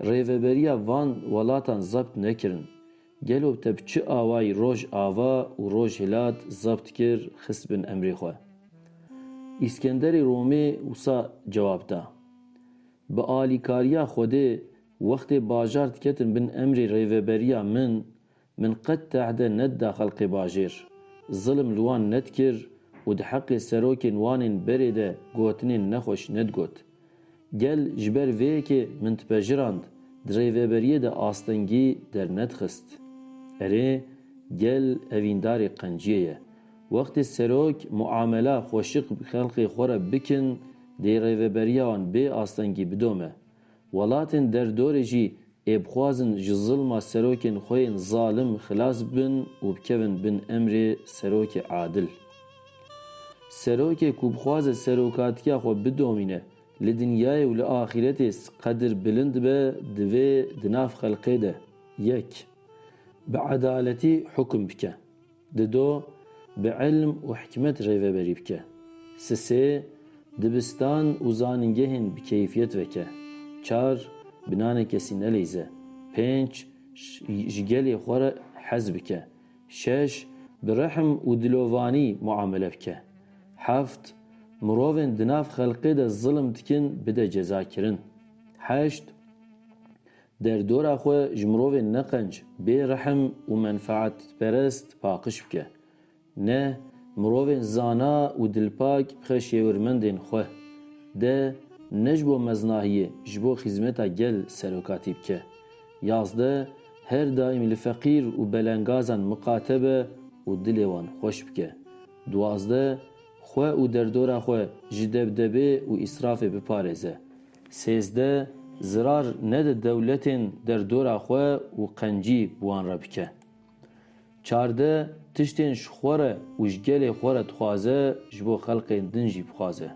Rêveberiya van welatan zebt nekirin. Gelo te bi çi awayî roj ava û roj hilat zebt kir xist bin emrê xwe? Îskenderê Romê wisa cewab da. Bi alîkariya Xwedê wextê bajar diketin bin emrê rêveberiya min Min qet tehde nedida xelqê bajêr. Zilm li wan nedkir û di heqê serokên wan ên berê de gotinên nexweş nedgot. Gel ji ber vê yekê min dipejirand, di rêveberiyê de astengî dernedixist. Erê, gel evîndarê qenciyê ye. Wextê serok muamela xweşik bi xelqê xwe re bikin dê rêveberiya wan bê astengî bidome. Welatên derdorê jî ê bixwazin ji zilma serokên xwe yên zalim xilas bibin û bikevin bin emrê serokê adil. Serokê ku bixwaze serokatiya xwe bidomîne, li dinyayê û li axîretê qedir bilind be divê di nav xelkê de, yek, bi edaletî hukm bike. Dido bi ilm û hikmet rêveberî bike. Sisê dibistan û zanîngehên bi keyfiyet veke. Çar bi nanê kesî nelîze. Pênc ji gelê xwe re hez bike. Şeş bi rehm û dilovanî muamele bike. Heft mirovên di nav xelqê de zilm dikin bide cezakirin. Heşt Derdora xwe ji mirovên neqenc, bêrehm û menfaetperest paqij bike. Ne, mirovên zana û dilpak bixe şêwirmendên xwe. De, ne ji bo meznahiyê, ji bo xîzmeta gel serokatî bike. Yazdeh, Her daîm li feqîr û belengazan miqate be û dilê wan xweş bike. Duwazdeh, Xwe û derdora xwe ji debdebê û îsrafê biparêze. Sêzdeh, Zirar nede dewletên derdora xwe û qencî bi wan re bike. Çardeh, Tiştên ji xwe re û ji gelê xwe re dixwaze ji bo xelkên din jî bixwaze.